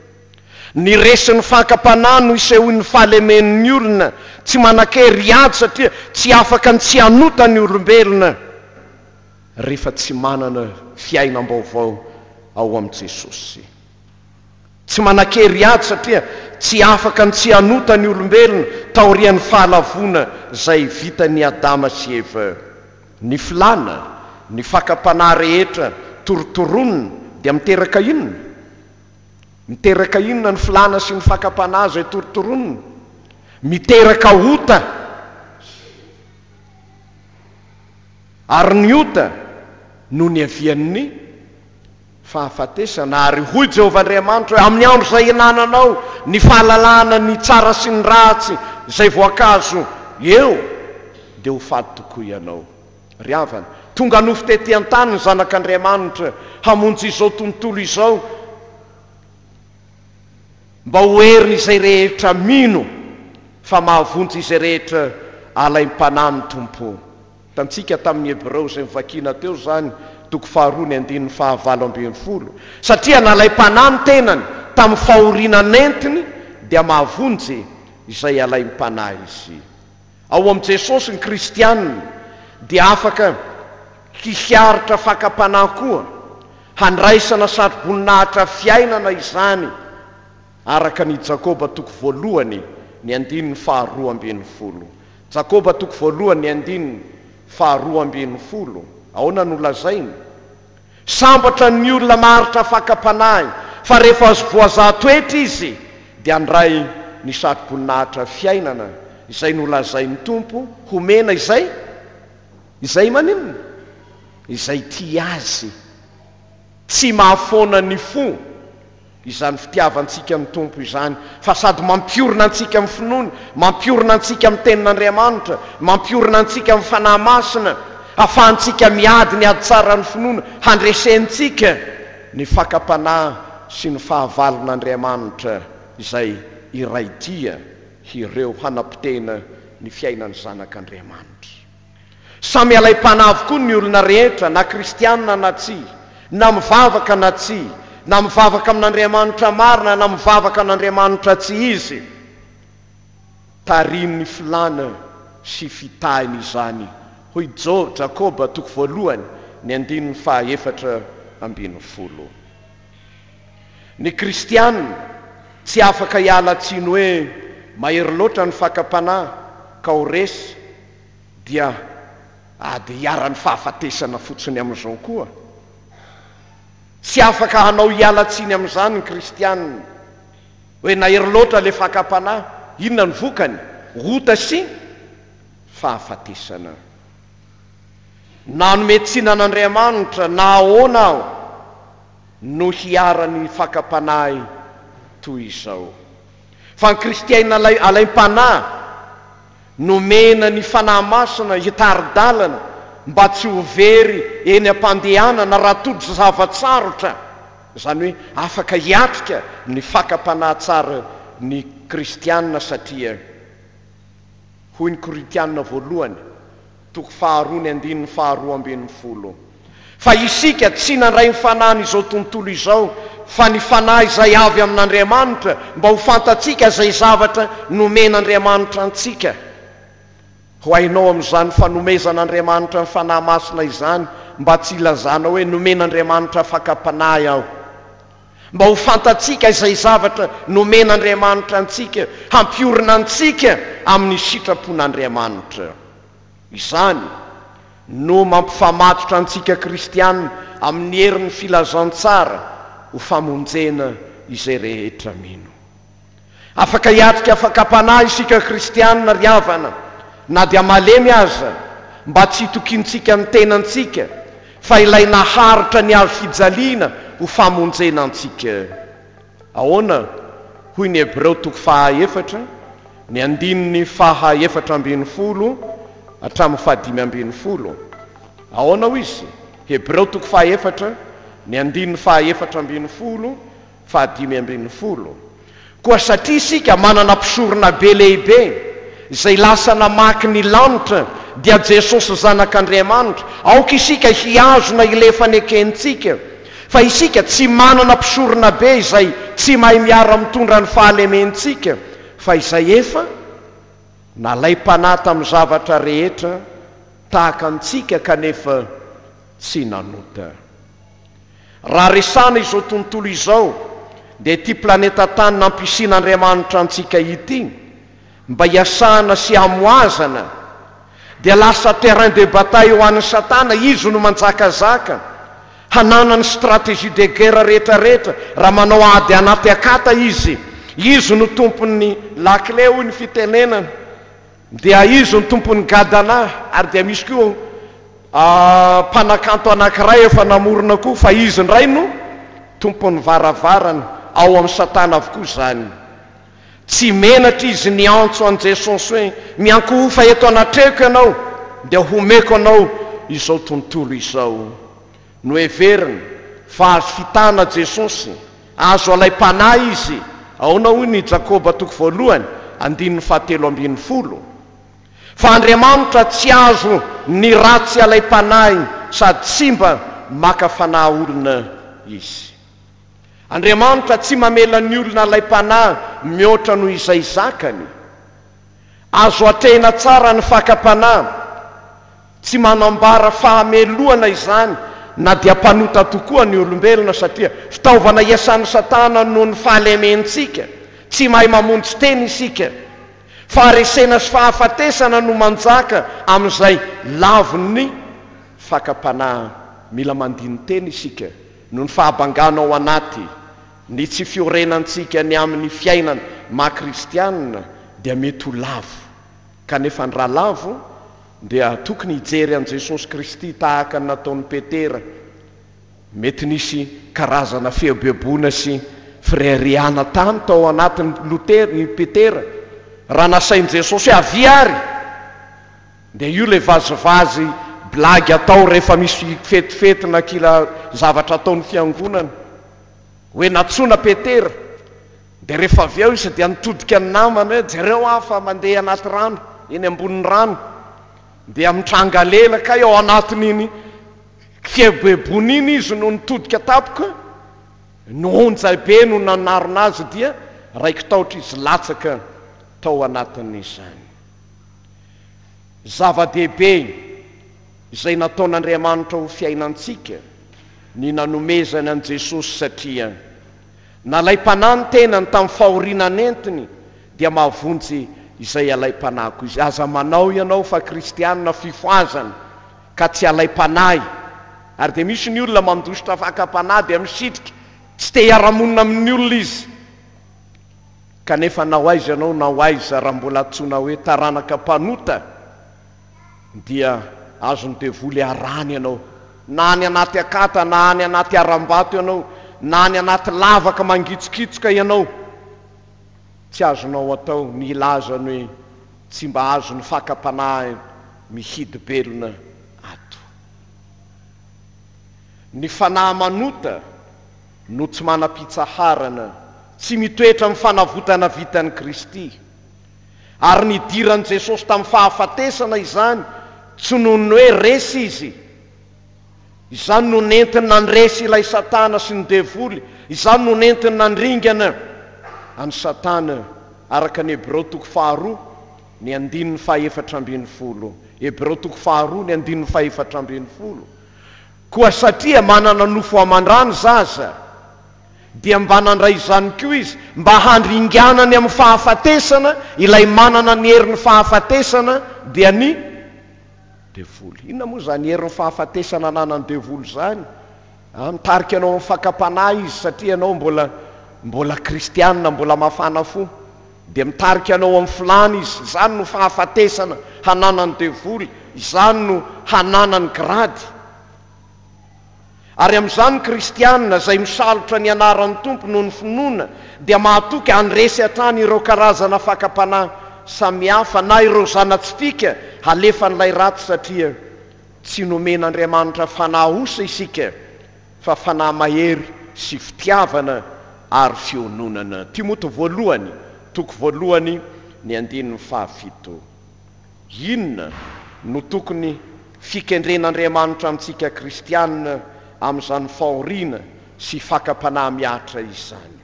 [SPEAKER 1] Ny resin'ny fakam-panahy no isehoan'ny fahalemen'ny olona tsy manan-kery hiady satria tsy afaka ny tsy hanota ny olombelona rehefa tsy manana fiainam-baovao ao amin'i Jesosy. Tsy manan-kery hiady satria tsy afaka ny tsy hanota ny olombelona taorian'ny fahalavoana izay vitan'i Adama sy Eva. Ny filàna ny fakam-panahy rehetra torotoronina dia miteraka inona? Miteraka inona ny filàna sy ny fakam-panahy izay torotoronina? Miteraka ota. Ary ny ota no niavian'ny. fahafatesana, ary hoy Jehovah Andriamanitra hoe, Amin'ny andro izay hinananao ny fahalalahana ny tsara sy ny ratsy, izay voankazo eo, dia ho faty tokoa ianao. Ry havana, tonga nofo tetỳ an-tany ny Zanak' Andriamanitra hamonjy izao tontolo izao, mba ho herin' izay rehetra mino fa mahavonjy izay rehetra alaim-panahy ny Tompo. Hitantsika tamin'ny Hebreo izay novakiana teo izany, toko faharoa ny andininy fahavalo ambin'ny folo, satria nalaim-panahy ny tenany tamin'ny fahoriana nentiny, dia mahavonjy izay alaim-panahy izy. Ao amin'i Jesosy ny kristiana dia afaka hiharitra fakam-panahy koa. Handraisana satroboninahitra fiainana izany. Araka an' i Jakoba toko voalohany ny andininy faharoa ambin'ny folo. Jakoba toko voalohany ny andininy faharoa ambin'ny folo, aona no lazainy? Sambatra ny olona maharitra fakam-panahy fa rehefa azo voazaha toetra izy dia handray ny satroboninahitra fiainana izay nolazain'ny Tompo homena izay izay maninona? izay tia Azy. Tsy mahafoana ny fo. Izany fitiavantsika ny Tompo izany, fa sady mampiorina antsika amin'ny finoana, mampiorina antsika amin'ny Tenin'Andriamanitra, mampiorina antsika amin'ny Fanahy Masina, afahantsika miady ny ady tsaran'ny finoana, handresentsika ny fakam-panahy sy ny fahavalon'Andriamanitra izay iray dia ireo hanapotehina ny fiainan'ny zanak'Andriamanitra. Samy alaim-panahy avokoa ny olona rehetra, na kristiana na tsia, na mivavaka na tsia, na mivavaka amin'Andriamanitra marina na mivavaka an'Andriamanitra tsy izy. Tarihin'ny filàna sy fitahiny izany, hoy Jo, Jakoba, toko voalohany, ny andininy fahaefatra ambin'ny folo. Ny kristiana tsy afaka hiala tsiny hoe mahery loatra ny fakam-panahy ka ho resy dia ady iharan'ny fahafatesana fotsiny amin'izao koa. Tsy afaka hanao hiala tsiny amin'izany ny kristianina. Hoe nahery loatra ilay fakam-panahy, inona no vokany? Ota sy fahafatesana. Nanome tsiny an'Andriamanitra na ahoana aho no hiharan'ny fakam-panahy toy izao? Fa ny kristiaina alaim-panahy, nomena ny Fanahy Masina hitari-dalana mba tsy ho very eny am-pandehanana raha tojo zava-tsarotra, izany hoe afaka hiatrika ny fakam-panahy tsara ny kristiana satria, hoy ny Korintiana voalohany, Toko faharoa ny andininy faharoa ambin'ny folo Fa isika tsy nandray ny fanahin'izao tontolo izao, fa ny fanahy izay avy amin'Andriamanitra, mba ho fantatsika izay zavatra nomen'Andriamanitra antsika. Ho hainao amin'izany fanomezan'Andriamanitra ny Fanahy Masina izany, mba tsy hilazanao hoe nomen'Andriamanitra fakam-panahy aho. mba ho fantatsika izay zavatra nomen'Andriamanitra antsika hampiorina antsika amin'ny sitrapon'Andriamanitra. Izany no mampifamatotra antsika kristiana amin'ny herin'ny filazantsara ho famonjena izay rehetra mino. Afaka hiatrika fakam-panahy isika kristiana ry havana, na dia malemy aza, mba tsy hitokiantsika ny tenantsika fa ilay naharitra ny hazo fijaliana ho famonjena antsika. Ahoana? Hoy ny Hebreo toko faha efatra, ny andininy faha efatra ambin'ny folo hatramin'ny faha dimy ambin'ny folo. Ahoana hoy izy? Hebreo toko faha efatra, ny andininy faha efatra ambin'ny folo Fahadimy ambin'ny folo, Koa satria isika manana mpisoronabe lehibe izay lasa namaky ny lanitra, dia Jesosy Zanak'Andriamanitra, aoka isika hihazona ilay fanekentsika fa isika tsy manana mpisoronabe izay tsy mahay miara-mitondra ny fahalementsika, fa izay efa nalaim-panahy tamin'ny zavatra rehetra tahaka antsika kanefa tsy nanota. Raha resahana izao tontolo izao dia ity planeta tany nampisian'Andriamanitra antsika ity mba hiasana sy hamohazana dia lasa terrain de bataille ho an'i satana, izy no manjakazaka, hananany stratégie de guerre rehetra rehetra raha manao ady anaty akata izy, izy no tompon'ny lakile hoy ny fitenenana. Dia izy no tompon'ny Gadana, ary dia misy koa mpanakanto anankiray efa namorona koa, fa izy indray no tompon'ny varavarana, ao amin'i Satana avokoa izany. Tsy menatra izy niantso an'i Jesosy hoe, Miankohofa eto anatreko ianao, dia homeko anao izao tontolo izao. Noheveriny fa azo fitana Jesosy, azo alaim-panahy Izy. Ahoana hoy ny Jakoba toko voalohany andininy fahatelo ambin'ny folo? Fa Andriamanitra tsy azo ny ratsy alaim-panahy sady tsy mba maka fanahy olona Izy. Andriamanitra tsy mamela ny olona alaim-panahy mihoatra noho izay zakany. Azo atrehina tsara ny fakam-panahy. Tsy manambara fahamelohana izany na dia mpanota tokoa ny olombelona, satria fitaovana iasan'i Satana noho ny fahalementsika. Tsy mahay mamonjy tena isika. Faharesena sy fahafatesana no manjaka amin'izay lavon'ny fakam-panahy. Mila mandini-tena isika noho ny fahabangana ao anaty. Ny tsy fiorenantsika ny amin'ny fiainana maha kristianina dia mety ho lavo, kanefa ny raha lavo dia tokony hijery an'i Jesosy Kristy tahaka ny nataon'i Petera. Mety nisy karazana fieboeboana sy fireharehana tany tao anatin'i Lotera, i Petera, raha nasain'i Jesosy hoe avia ary! Dia io ilay vazivazy blagy atao rehefa misy fetifety na kila zavatra ataon'ny fiangonana. hoe nantsoina Petera, dia rehefa avy eo izy dia nitodika ny namany hoe, jereo aho fa mandeha anaty rano, eny ambonin'ny rano, dia mitranga lela, kay ao anatin'iny kieboebony iny izy no nitodika tampoka, ny onjay be no nanarona azy dia raiki-tahotra izy latsaka tao anatin'izany. Zava-dehibe. izay nataon'Andriamanitra ho fiainantsika, ny nanomezany an'i Jesosy satria nalaim-panahy ny tenany tamin'ny fahoriana nentiny dia mahavonjy izay alaim-panahy koa izy. Aza manao ianao fa kristiana fifohazana ka tsy alaim-panahy ary dia misy ny olona mandositra fakam-panahy dia misitrika tsy te hiara-monina amin'ny olona izy kanefa na ho aiza ianao na ho aiza raha mbola antsoina hoe taranaka mpanota dia azon'ny devoly arahana ianao, na any anaty akata na any anaty harambato ianao, na any anaty lavaka mangitsokitsoka ianao. Tsy azonao atao ny hilaza ny hoe, Tsy mba azon'ny fakam-panahy mihidy-belona ato. Ny fanahy manota no tsy manam-pitsaharana, tsy mitoetra amin'ny fanavotana vitan'i Kristy. Ary nidiran'i Jesosy tamin'ny fahafatesana izany tsy noho ny hoe resy Izy. Izany no nentiny nandresy ilay Satana sy ny Devoly, izany no nentiny nandringana an'i Satana, araka ny Hebreo toko faharoa ny andininy fahefatra ambin'ny folo. Hebreo toko faharoa ny andininy fahefatra ambin'ny folo. Koa satria manana nofo aman-drano zaza, dia mba nandray izany koa izy mba handringana ny amin'ny fahafatesana ilay manana ny herin'ny fahafatesana dia ny devoly. Inona moa izany herin'ny fahafatesana ananan'ny devoly izany? A, mitarika anao amin'ny fakam-panahy izy satria ianao mbola, mbola kristiana, mbola mafana fo. Dia mitarika anao amin'ny filany izy, izany no fahafatesana hananan'ny devoly, izany no hananany grady. Ary amin'izany ny kristiana izay misalotra ny anaran'ny Tompo noho ny finoana dia mahatoky handresy hatrany ireo karazana fakam-panahy samihafa na ireo zana-tsipìka halefan'ilay ratsy satria tsy nomen'Andriamanitra fanahy osa isika fa fanahy mahery sy fitiavana ary fiononana. Timoty voalohany, toko voalohany, ny andininy fahafito. Inona no tokony fikendren'Andriamanitra amintsika kristiana amin'izany fahoriana sy fakam-panahy mihatra izany?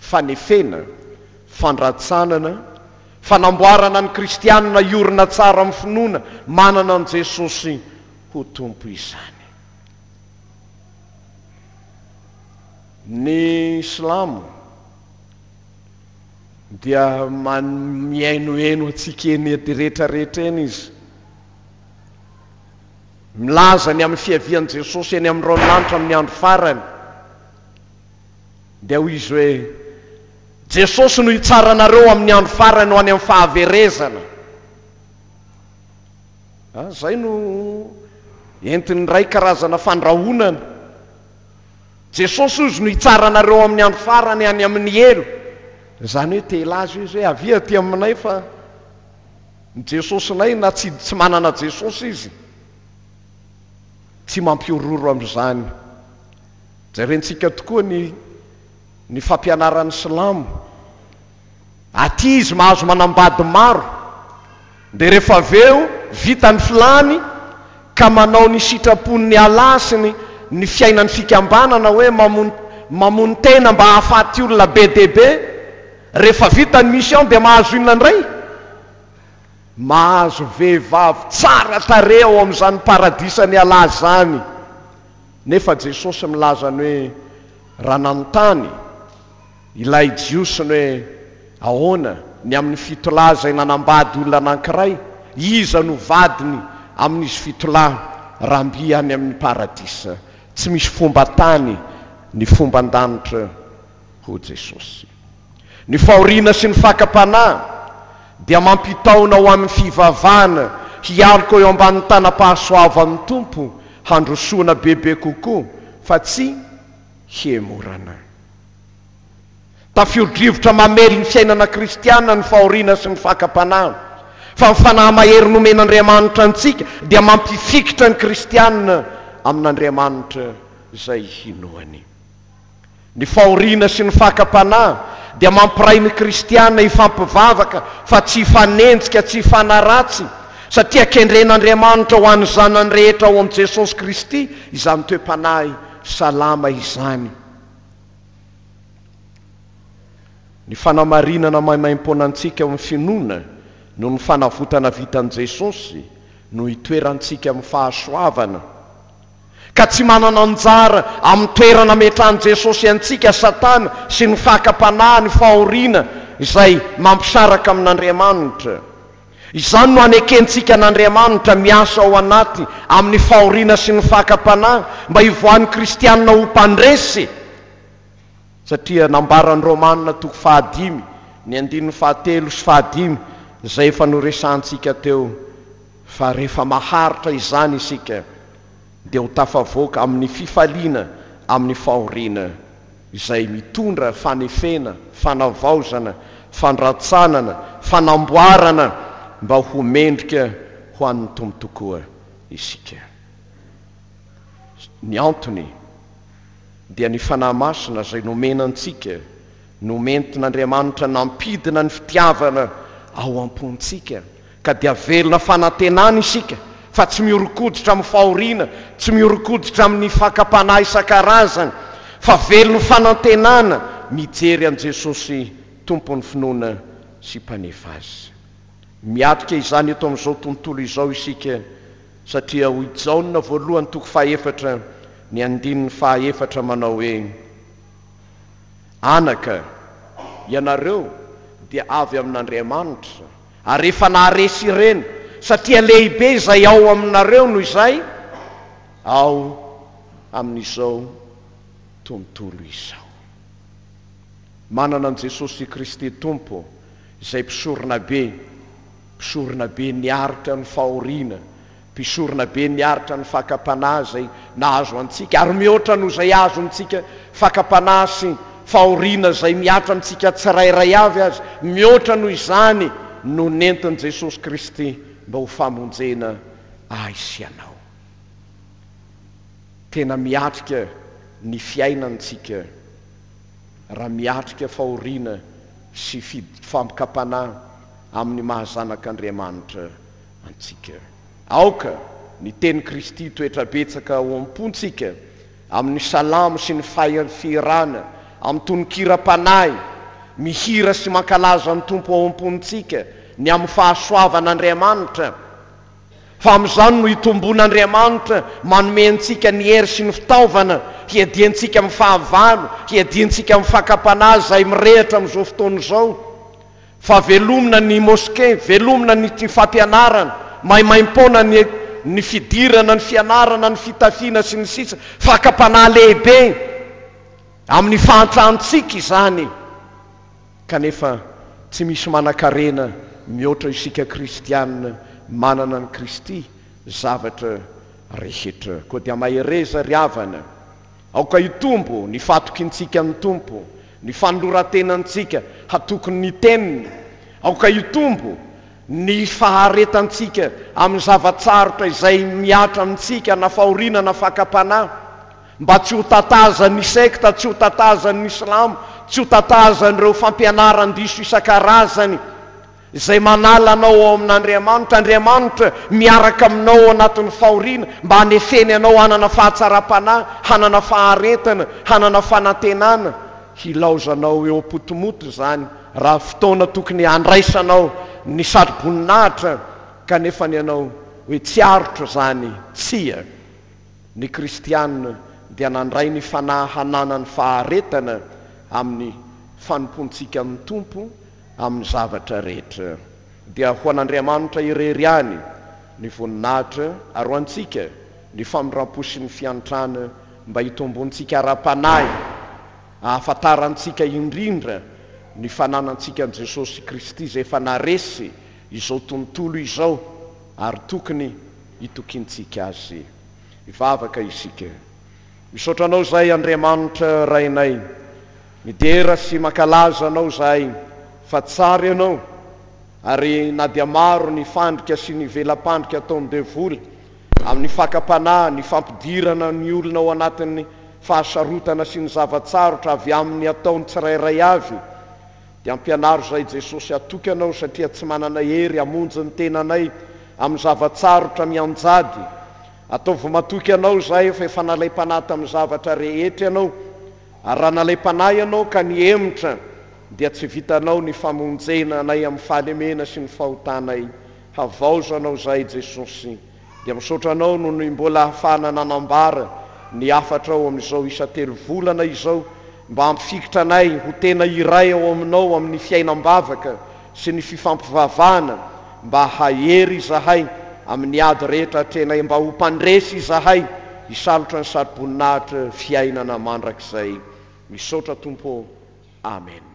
[SPEAKER 1] Fanefena, fandratsanana, fanamboarana ny kristiana hiorina tsara amin'ny finoana manana an'i Jesosy ho Tompo izany. Ny Silamo. dia mihainoheno antsika eny rehetra rehetra eny Izy. Milaza ny amin'ny fiavian'i Jesosy eny amin'ny raolanitra amin'ny andro farany, dia hoy Izy hoe, Jesosy no hitsara anareo amin'ny andro farany ho any amin'ny fahaverezana. Izay no entin'ny iray karazana fandrahonana. Jesosy hoy izy no hitsara anareo ao amin'ny andro farany any amin'ny helo. Izany hoe te hilaza io izy hoe avia aty aminay fa ny Jesosinay na tsy tsy manana Jesosy izy tsy mampihorohoro amin'izany. Jerentsika tokoa ny ny fampianaran'ny silamo. Aty izy mahazo manambady maro dia rehefa avy eo vita ny filany ka manao ny sitrapon'ny Allah sy ny ny fiainan'ny fikambanana hoe mamono mamono tena mba hahafaty olona be dia be. Rehefa vita ny mission dia mahazo inona indray? Mahazo vehivavy tsara tarehy ao amin'izany paradisan'i Allah izany. Nefa Jesosy milaza ny hoe raha nanontany. Ilay Jiosy ny hoe ahoana ny amin'ny fitolahy izay nanambady olona anankiray, iza no vadiny amin'izy fitolahy raha mby any amin'ny paradisa tsy misy fomba tany ny fomba an-danitra hoy Jesosy. Ny fahoriana sy ny fakam-panahy dia mampitaona ho amin'ny fivavahana hialoka eo ambanin'ny tanam-pahasoavan'ny Tompo handrosoana bebe kokoa fa tsy hihemorana. Tafio-drivotra mamely ny fiainana kristiana ny fahoriana sy ny fakam-panahy, fa ny fanahy mahery nomen'Andriamanitra antsika dia mampifikitra ny kristiana amin'Andriamanitra izay hinoany. Ny fahoriana sy ny fakam-panahy dia mampiray ny kristiana hifampivavaka fa tsy hifanenjika, tsy hifanaratsy, satria kendren'Andriamanitra ho an'ny zanany rehetra ao amin'i Jesosy Kristy izany toe-panahy salama izany. Ny fanamarinana maimaimpoana antsika ao amin'ny finoana noho ny fanavotana vitan'i Jesosy no itoerantsika amin'ny fahasoavana, ka tsy manana anjara amin'ny toerana ametrahan'i Jesosy antsika Satana sy ny fakam-panahy, ny fahoriana izay mampisaraka amin'Andriamanitra. Izany no anekentsika an'Andriamanitra miasa ao anaty amin'ny fahoriana sy ny fakam-panahy mba hivoahan'ny kristiana ho mpandresy, satria nambaran'ny Romana toko fahadimy ny andininy fahatelo sy fahadimy izay efa noresahantsika teo fa rehefa maharitra izany isika dia ho tafavoaka amin'ny fifaliana amin'ny fahoriana. izay mitondra fanefena, fanavaozana, fandratsanana, fanamboarana mba ho mendrika ho an'ny Tompo tokoa isika. Ny antony dia ny Fanahy Masina izay nomena antsika, nomentin'Andriamanitra nampidina ny fitiavana ao am-pontsika Ka dia velona fanantenana isika fa tsy mihoron-koditra amin'ny fahoriana, tsy mihoron-koditra amin'ny fakam-panahy isan-karazany, fa velon'ny fanantenana mijery an'i Jesosy Tompon'ny finoana sy Mpanefa azy. Miatrika izany eto amin'izao tontolo izao isika, satria hoy i Jaona voalohany toko fahefatra ny andininy fahaefatra manao hoe, Anaka, ianareo dia avy amin'Andriamanitra, Ary efa naharesy ireny, satria lehibe izay ao aminareo noho izay ao amin'izao tontolo izao. Manana an'i Jesosy Kristy Tompo, izay Mpisoronabe, Mpisoronabe niaritra ny fahoriana, Mpisorona be miaritra ny fakam-panahy izay nahazo antsika, ary mihoatra noho izay azontsika, fakam-panahy sy fahoriana izay mihatra amintsika tsirairay avy aza, mihoatra noho izany no nentin'i Jesosy Kristy mba ho famonjena ahy sy ianao. Tena miatrika ny fiainany tsika raha miatrika fahoriana sy fib-fampkam-panahy amin'ny maha zanak'Andriamanitra antsika. Aoka ny tenin'i Kristy hitoetra betsaka ao am-pontsika, amin'ny salamo sy ny fahiny fihirana, amin'ny tonon-kiram-panahy, mihira sy mankalaza ny Tompo ao am-pontsika, ny amin'ny fahasoavan'Andriamanitra, fa amin'izany no itombon'Andriamanitra manome antsika ny hery sy ny fitaovana hiadiantsika amin'ny fahavalo, hiadiantsika amin'ny fakam-panahy izay mirehitra amin'izao fotoana izao. Fa velomina ny mosqué, velomina ny tia fampianarana, maimaimpoana ny ny fidirana, ny fianarana, ny fitafiana sy ny sisa Fakam-panahy lehibe amin'ny fahantrantsika izany kanefa tsy misy manankarena mihoatra isika kristiana manana an'i Kristy zavatra rehetra. Koa dia mahereza ry havana, aoka hitombo ny fatokintsika ny Tompo. Ny fanoloran-tenantsika hatoky ny Teniny, aoka hitombo ny faharetantsika amin'ny zava-tsarotra izay mihatra amintsika na fahoriana na fakam-panahy, mba tsy ho tatazan'ny sekta, tsy ho tatazan'ny silamo, tsy ho tatazan'ireo fampianaran-diso isan-karazany. izay manala anao ao amin'Andriamanitra, Andriamanitra miaraka aminao ao anatin'ny fahoriana mba hanefeny anao hanana fahatsaram-panahy, hanana faharetana, hanana fanantenana, hilaozanao eo am-potomoto izany raha fotoana tokony handraisanao ny satroboninahitra kanefa ny anao hoe tsy aritro izany, tsia, ny kristiana dia nandray ny fanahy hanana ny faharetana amin'ny fanompoantsika amin'ny Tompo, amin'ny zavatra rehetra, dia ho an'Andriamanitra irery ihany ny voninahitra, ary ho antsika ny famindram-po sy ny fiantrana, mba hitomboantsika ara-panahy, hahafantarantsika indrindra ny fananantsika an'i Jesosy Kristy izay efa naharesy izao tontolo izao, ary tokony hitokiantsika Azy. Hivavaka isika. Misaotra anao zahay Andriamanitra Rainay midera sy mankalaza anao zahay fa tsara ianao ary na dia maro ny fandrika sy ny vela-pandrika ataon'ny devoly amin'ny fakam-panahy ny fampidirana ny olona ao anatin'ny fahasarotana sy ny zava-tsarotra avy amin'ny ataon'ny tsirairay avy dia ampianaro zahay Jesosy hatoky anao satria tsy manana hery hamonjy ny tenanay amin'ny zava-tsarotra mianjady Ataovy matoky anao izahay fa efa nalaim-panahy tamin'ny zavatra rehetra ianao, ary raha nalaim-panahy ianao ka nihemotra, dia tsy vitanao ny famonjena anay amin'ny fahalemena sy ny fahotanay. Havaozanao izahay Jesosy. Dia misaotra anao noho ny mbola ahafahana nanambara ny hafatrao amin'izao isa telo volana izao, mba hampifikitra anay ho tena iray ao aminao amin'ny fiainam-bavaka sy ny fifampivavahana mba hahery izahay amin'ny ady rehetra atrehinay mba ho mpandresy izahay hisalotra ny saro-boninahitra fiainana mandrakizay misaotra Tompo ô Amen.